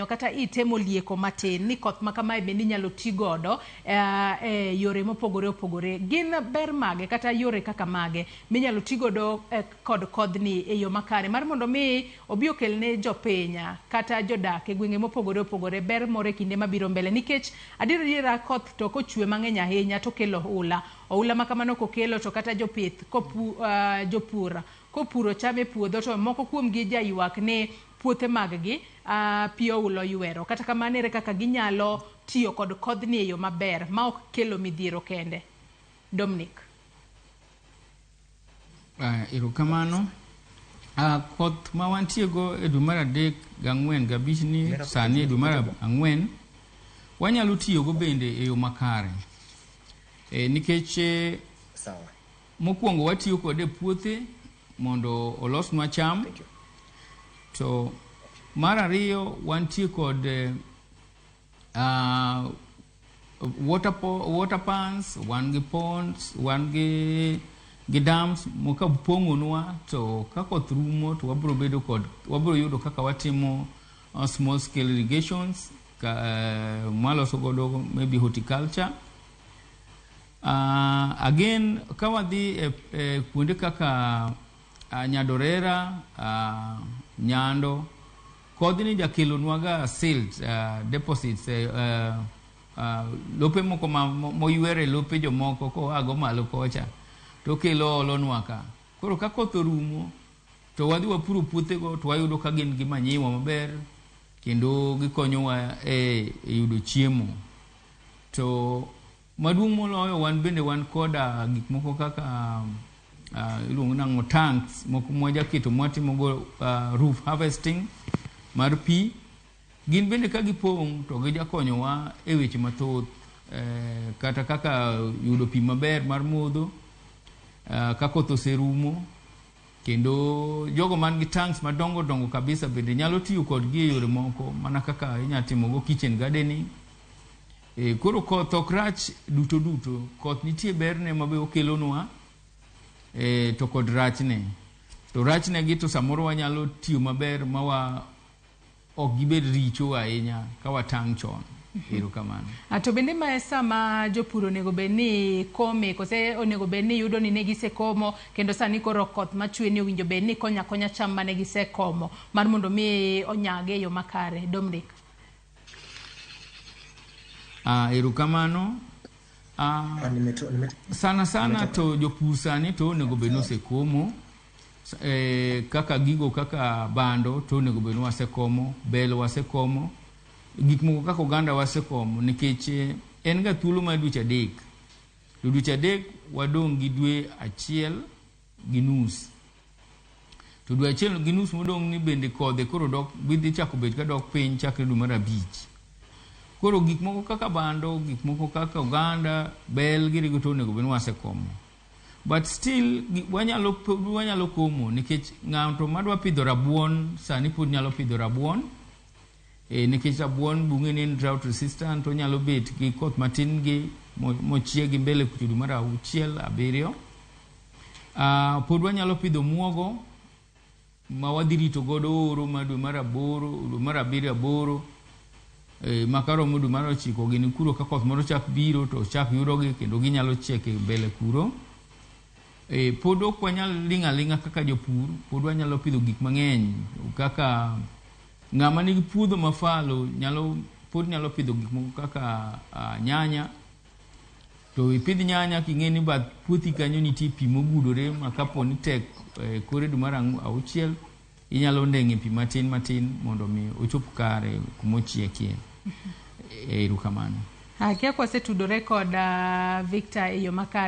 kata ite molieko matin ni koth ma kamae bende inyalo ti godo eh, e yore mopogore opogore. Gin ber mage kata yore kaka mage minyalo ti godo eh, kod kodhni e yo makare mar mondo mi obi okel ne jopinya kata jodak e gwenge mopogore opogore ber moro e kinde mabiro mbele nikech adier adiera koth to kochwe mang'eny ahinya to kelo hula. Ohula ma kamano kokelo to kata jopith kopu, eh, jopur kopuro cham e puodho to moko kuomgi jaywak ni puothe maggi, a pi oula oywero. Kata kamano, ere kaka ginyalo tiyo kod kodhni e yo maber ma ok kelo midhiero kende? Dominic. Uh, erokamano. Uh, koth ma wantiego e dwe mar adek gang'wen gabich ni sani e dwe mar ang'wen wanyalo tiyogo bende e yo makare e, nikech e, Mokwongo watiyo kode e puothe mondo olosnwa cham. To mar ariyo wantie kod uh, water, po, water pans, wan gi ponds, wan gi gi dams moka pong'onwa to ka koth rumo to wabro bedo kod wabro yudo kaka watimo uh, small scale irrigations ka, uh, mwaloso godo maybe horticulture Uh, again, ka wadhi e, e kuonde kaka uh, Nyadorera, uh, Nyando, kodhini jakelonwaga silt uh, deposits uh, uh, lope moko moywere lope jomoko koago malo kocha to kelo olonwa ka koro ka koth orumo to wadhi wapuro puothego to wayudo ka gin gi manyiwa maber kendo gikonyowa e, e yudo chiemo to Maduong' moloyo, wan bende wan koda gik moko kaka uh, iluongo nang'o tanks moko mwajaketo mwatimogo uh, roof harvesting mar pi. Gin bende ka gipong' to gijakonyowa e weche mathoth eh, kata kaka yudo pi maber mar modho uh, ka koth oserumo kendo jogo man gi tanks madongo dongo kabisa bende nyalo tiyo kodgi e yore moko mana kaka inyalo timogo kitchen gardening Ee, koro koth ok rach duto duto. Koth nitie berne ma be okelonwa e, to kod rachne. To rachnegi to samoro wanyalo tiyo maber ma wa ok gibed richo ahinya ka watang' chon. Ero kamano. A, to bende ma e sa ma jopur onego bed ni kome, kose onego bed ni yudo ni ne gisekomo kendo sani koro koth ma chwe ni owinjo bed ni konyo akonya cham ma ne gisekomo mar mondo mi onyag e yo makare? Dominic. Ah, erokamano. Ah, Ah, nimeto- nimeto- sana sana to jopur sani to onego bed ni osekomo S- eh, kaka gigo kaka bando to onego bed ni wasekomo bel wasekomo gik moko kaka oganda wasekomo nikech eh, en ga thuolo mar dweche adek to dweche adek wadong' gi dwe achiel gi nus to dwe achiel gi nus modong' ni bende kodhe koro dok dhi chako bet ka dok piny chakre dwe mar abich. Koro gik moko kaka bando, gik moko kaka oganda, bel giri goto onego bed ni wasekomo. But still wanyalo wanyalo komo nikech ng'ato madwa pidho rabuon sani pod nyalo pidho rabuon. E, nikech rabuon bunge ni en drought resistant, onyalo bet gi koth matin gi mo- mochiegi mbele kuchudu mar auchiel abiriyo. Ah, pod wanyalo pidho muogo ma wadhi rito godo oro ma dwe mar aboro, dwe mar abiriyo aboro e, ma karomo dwe mar ochiko gini kuro ka koth moro chak biro to chak yudogi kendo ginyalo chiek e mbele kuro. E, pod ok wanyal ling' aling'a kaka jopur, pod wanyalo pidho gik mang'eny kaka ng'ama nigi puodho mafalo nyalo pod nyalo pidho gik moko kaka a, nyanya to ipidh nyanya king'e ni bath puothi kanyo nitie pi mogudore ma kapo ni tek e, kore dwe mar auchiel inyalo ndeng'e pi matin matin mondo mi ochop kare kuma ochiekie. Erokamano. Akia kwasetudore kod uh, Victor e yo makare